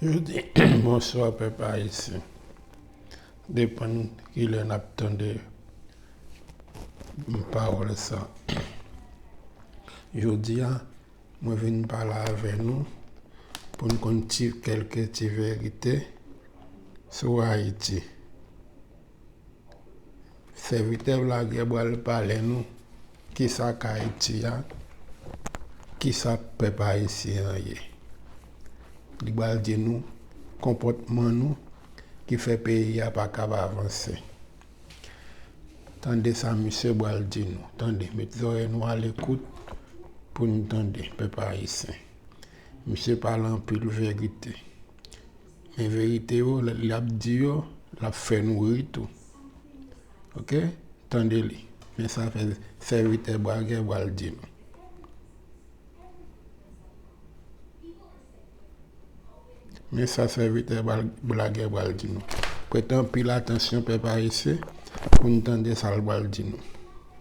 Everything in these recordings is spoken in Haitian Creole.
Yo di bonswa pèp ayisyen depann kilè nap tande pawòl sa jodia mwen vin pale avè nou poun konn ti kèlke ti verite sou ayiti. Sèvitè Blaguer pral pale nou kisa k Ayiti a, kisa pèp ayisyen an ye. Li pral di nou konpòtman nou ki fè peyi a pa kab avanse. Tande sa misye pral di nou. Tande, met zòrèy nou alekout pou n tande pèp ayisyen. Misye pale anpil verite. Men verite yo lap di yo lap fè nou ri tou ok tande li men sa fè sèvitè bragè bal di nou. Men sa sèvitè blagè bal di nou. Prete anpil atansyon pèp ayisyen pou nou tande sa l bal di nou.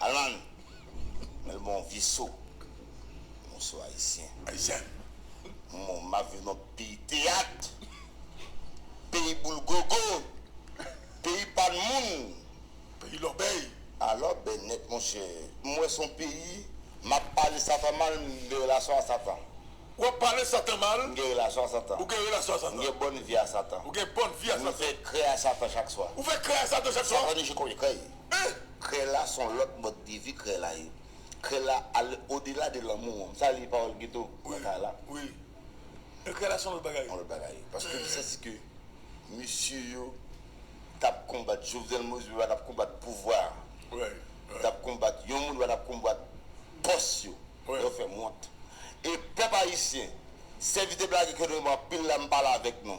Alan! Men l bon vye so. Mwen so Ayisyen. Ayisyen. Mwen m ap viv nan peyi teyat, peyi boul gogo, peyi pa n moun. Peyi lòbèy. A lòbèy nèt monchè. M wè s on peyi m ap pale Satan mal, m gen relasyon a Satan. W ap pale Satan mal. M gen relasyon a Satan. Ou gen relasyon a Satan. M gen bòn vi a Satan. Ou gen bòn vi a Satan. M fè krè a Satan chak swa. Ou fè krè a Satan chak swa. Satan ni je konbyen krè. Ehh! Krèy la son lòt mòd de vi krèy la ye. Krèy la al odela de lanmou an. Sa li pawòl geto nan kay la. Wi. Ehh krèy la son lòt bagay. Son lòt bagay ye. Paske m santi ke mesye yo t ap konbat Jovenel Moïse yo pa t ap konbat pouvwa a. Yo t ap konbat yon moun yo pa t ap konbat pòs yo. Lè yo fè m wont. E pèp ayisyen, sèvitè blagè ke nou anpil la m pale avèk nou.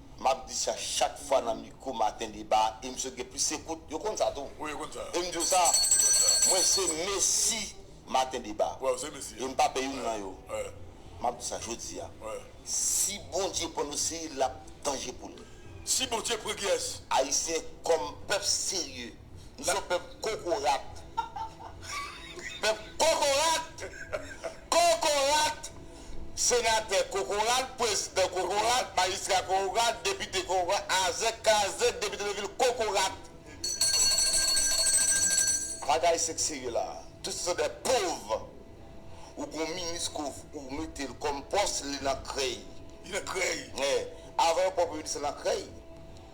Map di sa chak fwa nan mikro maten deba a e misye gen plis ekout. Yo konn sa tou. Wi yo konn sa. E m di yo sa, mwen se Messi maten deba. Wè ou se Messi a. E m pa pè youn nan yo. Wè. Map di sa jodi a. Wè. Si Bondye pran dosye l ap danje pou l. Si Bondye pran Guy S. Ayisyen kòm pèp serye. Misye pèp kokorat. Pèp kokorat. Kokorat. Senatè kokorat, prezidan kokorat, majistra kokorat, depite kokorat, azèk kazèk depite de vil kokorat. Bagay se k serye la. Tout se de pov. Ou gon minis ke ou mete l kom pos li nan krey. Li nan krey. Avan yo pran premye minis la nan krey.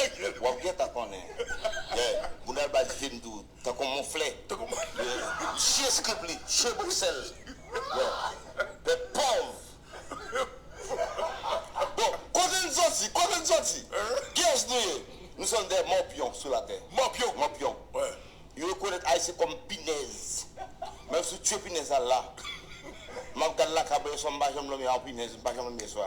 Epi wap gentan konnen. Lè boudal ba dife m tou tankou moufflè. Jye skrip li jye boksè l. Pèp pòv. Bon kote n soti kote n soti kiyès nou ye nou sòn dè mòpyon sou latè mòpyon yo rekonèt ayisyen kòm pinèz menm sou tye pinèz la la map gad lakabè yo swa m pa janm dòmi a yon pinèz m pa janm dòmi yèswa.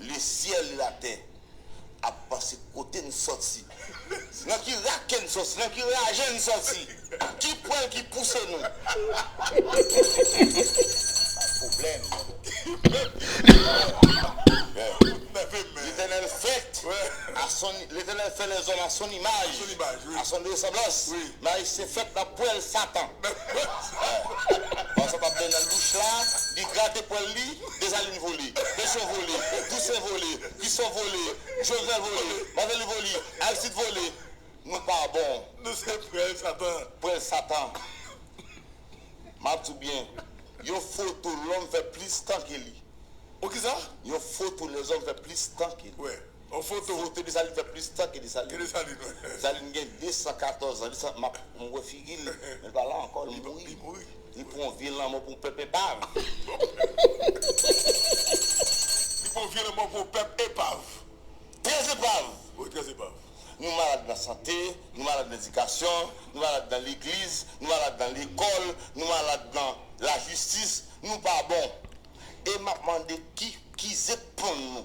Le ciel et la terre ap panse kote n sòti, nan ki rake n sòti, nan ki raje n sòti, ki pwèl ki pouse nou bay pwoblèm. Letènèl fè lèzòm a son imaj, a son resanblans, men Ayisyen fèt nan pwèl satan. Pandan sa w t ap benyen nan douch la, li grate pwèl li. Desalin vole, Pétion vole, Toussaint vole, Christophe vole, Jovenel vole, Martelly vole, Aristide vole, nou pa bon. Nou se prèl satan. Prèl satan. Map di w byen, yon foto lòm fè plis tan ke li. Yon foto lèzòm fè plis tan ke li. Yon foto ou te Desalin fè plis tan ke Desalin. Ke Desalin wi. Desalin gen 214 an. Mwen wè figi l, men l pa la ankò, l mouri. Li mouri. Li pran yon vye lanmò pou yon pèp epav. Li pran yon vye lanmò pou yon pèp epav. Trè epav. Wi, trè epav. Nou malad nan sante, nou malad nan edikasyon, nou malad nan legliz, nou malad nan lekòl, nou malad nan lajistis, nou pa bon. E m ap mande ki zepon nou.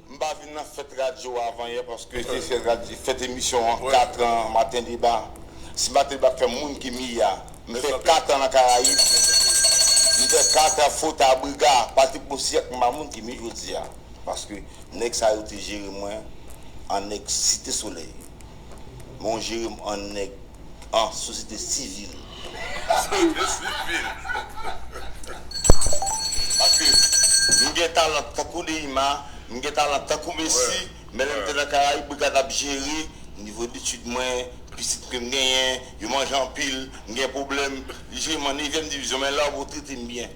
M pa vin nan fèt radyo avan yè paske se fèt radyo fèt emisyon an 4 an maten deba si maten deba ap fè moun ki miya m fè 4 an nan karayib m fè 4 an fot a briga pati pou syèk m pa moun ki mi jodi a paske nèg sa yo te jere mwen an nèg site solèy men w jere m an nèg Ah sosyete sivil. Sosyete sivil. Paske m gen talan tankou Neyma, m gen talan tankou Messi, men lè m te nan Karayib mwen gat ap jere nivo detid mwen, pitit ke m genyen, yo manje anpil, m gen pwoblèm, li jwe m an nevyèm divizyon men la ou trete m byen.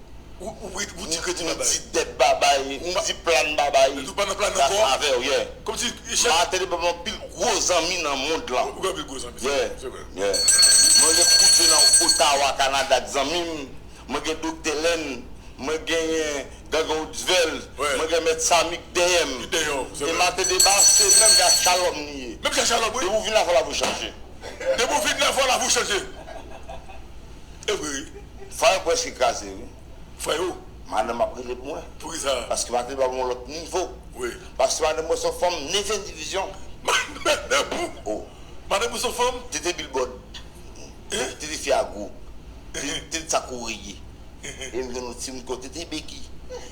Ou di kredi babay. Ou di dèt babay. Ou di plan babay. Ou pa nan plan ankò. Sa avè w yeah. Kòmsi chak. Martelly pap anpil gwo zanmi nan mond lan. Ou gen anpil gwo zanmi. Yeah. Se vre. Yeah. Mwen gen Koudjè nan Ottawa Canada k zanmi m. Mwen gen Doktè Lèn. Mwen genyen Gangan Oudvèl. Wè. Mwen gen Mèt Samy k dèyè m. Ki dèyè w. Se vre. E Martin Debat an se menm jan ak Shalom li ye. Menm jan ak Shalom wi. Depi w vin la fò lavi w chanje. Depi w vin la fò lavi w chanje. Ebri fire preske kraze wi. Freo madanm ap rele pou mwen. Poukisa? Paske madanm pral yon lot nivo. Wi. Paske madanm mwen son fanm neve divizyon. Madanm ou? Oh. Madanm ou son fanm? Tete bilbòd. Hein? Tete fi a gwo. Tete sa kou reye. Em gen yon ti moun ko tete begi.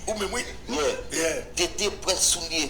Ou menm wi. Yeah. Yeah. Tete prent soulye.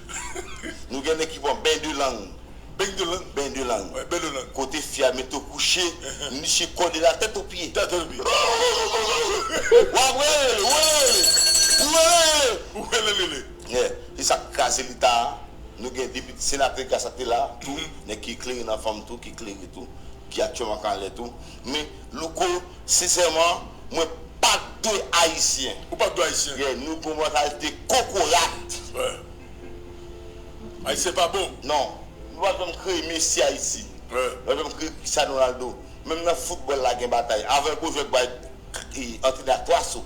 Nou gen nèg ki pran ben de lang. Beny de lang? Ben de lang. Wè, ben de lang. Kote fi a mete w kouche, misye kòde la tèt opye. Tèt opye. Wa ap welele, welelele, welelele. Welelele. Yè, se sa k kraze Leta a. Nou gen depite, senatè Graça te la tou, nèg ki eklere nan fanm tou, ki klere tou, ki aktyèlman k anlè tou. Men louko sinsèman mwen pa de ayisyen. Ou pa de ayisyen. Yeah nou gon mantalit de kokorat. Yeah ayisyen pa bon. Non nou pap janm kreye messi ayiti. Yeah nou pap janm kreye cristiano ronaldo. Menm nan football la gen batay. Avan yon gwo jwè k bay antrene ak 3 so.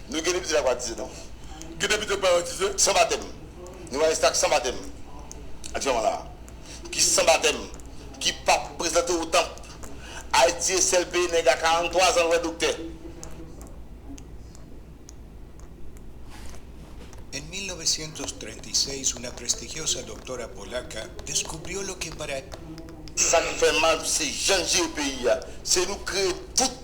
Nou gen de pitit ak batize nou. Gen de pitit ak pa batize. San batèm. Nou va reste ak san batèm. Di manman la. Ki san batèm. Ki pap prezante ou tanp. Ayiti e sèl peyi nèg a 43 zan l wè doktè. En 1936 una prestigiosa doctora polaca descubrió lo que para. Sa k fè mal se jan n jere peyi a. Se nou kreye tout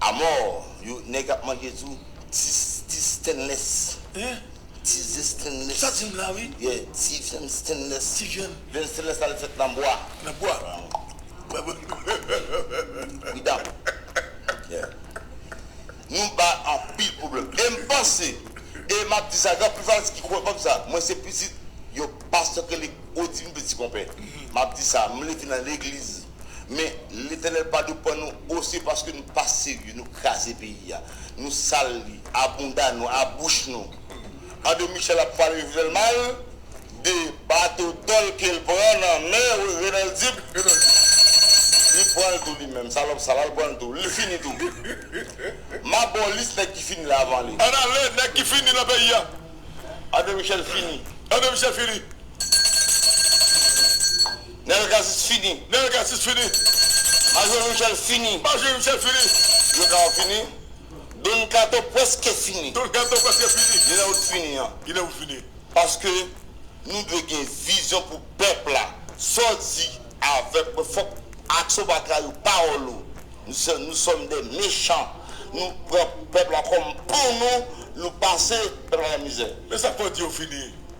Amor yo neg ap mange tou ti ti stainless hein ti ze stainless ou sa dim la wi yeah ti vyann stainless ti vyann vyann stainless la li fet nan bwa nan bwa without yeah nou bay anpil problem em panse e map di sa gen anpil fanatik ki kwè kòm sa mwen se pitit yon pastè ki rele odimy petit konpè map di sa m leve nan legliz Men Letènèl pa dwe pwan nou ose paske nou pa serye, nou kraze peyi a, nou sal li, a bounda nou, a bouch nou. André Michel ap pale Jovenel mal, de bato dòl ke l pran nan men Renald Dib, li pwan l tou li menm, salòp sal la, l pwan l tou, li fini tou. M a ba w lis nèg ki fini la avan li. Ann ale, nèg ki fini nan peyi a. André Michel fini. André Michel fini. Nel casis fini. Nel casis fini. Majori michel fini. Majori michel fini. Don kato fini. Don kato preske fini. Don kato preske fini. Ginen wout fini an. Ginen wout fini. Paske nou dwe gen vizyon pou pep la. Sa w di avek mwen fok aksyon w pa trayi pawol ou. Nou som de mechan. Nou pran pep la kom pou nou. Nou pase pep la nan mize. Men sa fok di yo fini.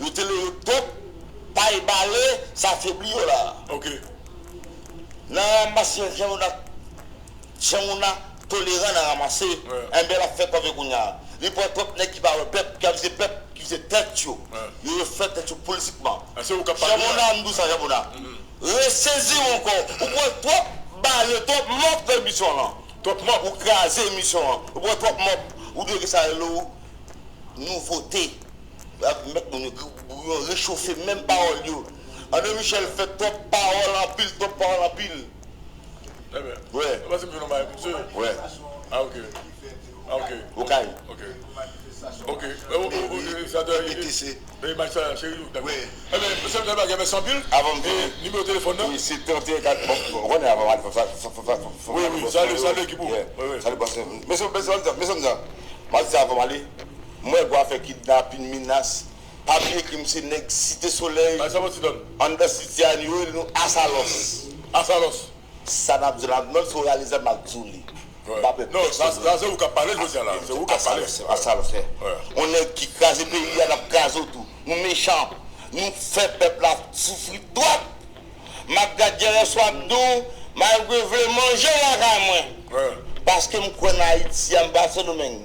yo te leve pèp pay bale sa febli yo la ok nan ramase yon jan moun jan moun nan toleran nan ramase enben lap fè kòve kounya li pran twòp nèg ki pa wè pèp ki ap vize pèp ki vize tèt yo yo yo fè tèt yo politikman jan moun nan mdou sa jan moun nan reseziw ankò ou pran twòp bale twòp mòp fè emisyon lan twòp mòp ou kraze emisyon an ou pran twòp mòp ou dwe gen sa yo rele ou nouvote. Yap met moun yo gou pou yo rechofe menm pawol yo Andre Michel fè twòp pawol anpil twòp pawol anpil wè. M wè gwa fè kidnapin minas pa bliye krim se nèg site solèy anndan siti a yo rele nou asalòs sa nap di la menm si w reyalize map di w li m pa pè pèsonn asalòs on nèg ki kraze peyi a nap kraze w tou nou mechan nou fè pèp la soufri twòp map gad dèyè sou ap di w malgre vle manje lakay mwen paske m kwè nan ayiti a m pa sendomeng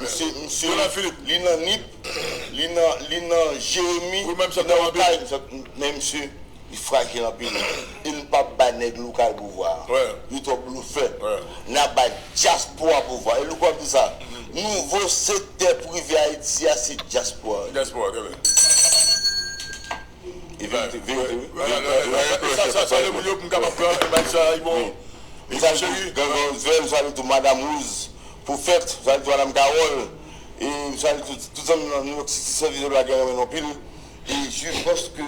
Misye li nan nip, li nan li nan jeremi, li nan okay, men misye li frajil anpil e nou pap bay nèg lokal pouvwa a, yo twò blofè, nap bay dyaspora pouvwa a e louko ap di sa, nouvo sektè prive ayiti a se dyaspora li ye. Mesaj pou Gangan Ozwèl, salut tou madam Rose. Pwofèt Valdo Alam Carol e m salye tout tout zanmi m nan Nouyòk Siti sèvis Bondye bagay renmen nou anpil e je pense que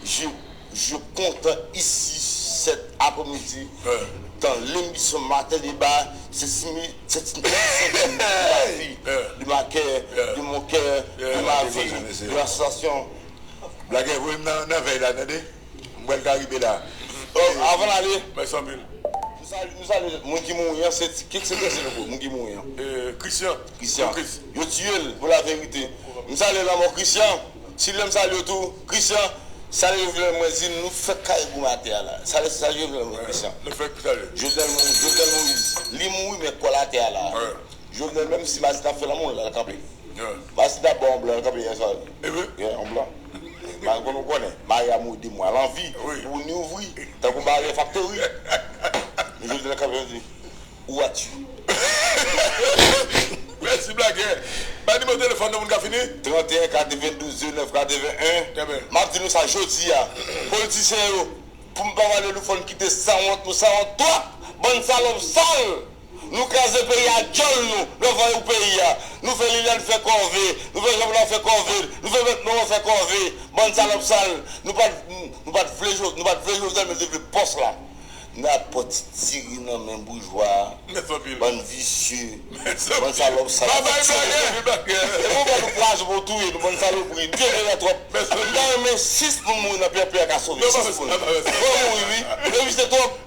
je je kontan isi sèt apre midi dans l'emission matin débat c'est si mi c'est une émission de ma vie de ma cœur de mon cœur de ma vie de ma sensation Blagè voye m nan vèy la tande. M pral ka rive la. Ok avan l ale. Mèsi anpil. Nou salye moun ki mouri an. Se ki se prese nou bro moun ki mouri an. Christian. Christian. Yo tiye l pou la verite. M salye lanmò Christian. Silvyen m salye w tou. Christian. Salye yo vle mwen di nou fèk kare gou m atè a la. Salye sa yo vle mwen Christian. Nou fèk salye. Jovenel Moïse. Jovenel Moïse. Li mouri men kò l atè a la. Jovenel menm si Masita ap fè lanmou l lal kanpe Masita ap ba yon blan l kanpe yè swa yeah yon blan mal konn ou konnen Maria modi mwen al anvi pou ni ouvri tankou Maria faktori men Jovenel kanpe lap di ou a tu Mèsi blagè Bay nimewo telefòn nou pou n ka fini. 31 92 09 81 Map di nou sa jodi a politisyen yo pou m pa pale nou fò n kite sanwont nou sanwont twòp bann salòp sal. Nou kraze peyi a dyòl nou lè voye ou peyi a nou fè Liliane fè kòve nou fè Jeanpla fè kòve l nou fè mèt Laurent fè kòve bann salòp sal nou pat nou pat vle nou pat vle Jovenel men nou te vle pòs la nan ap pran ti diri nan men boujwa bann visye bann salòp sal nou fè tire nou anpil bagè epi ou bann pwazon pou touye nou bann salopri nou te vle la twòp m ta renmen 6 moun mouri nan pèpè a ka sove 6 moun fò mouri wi yo visye twòp.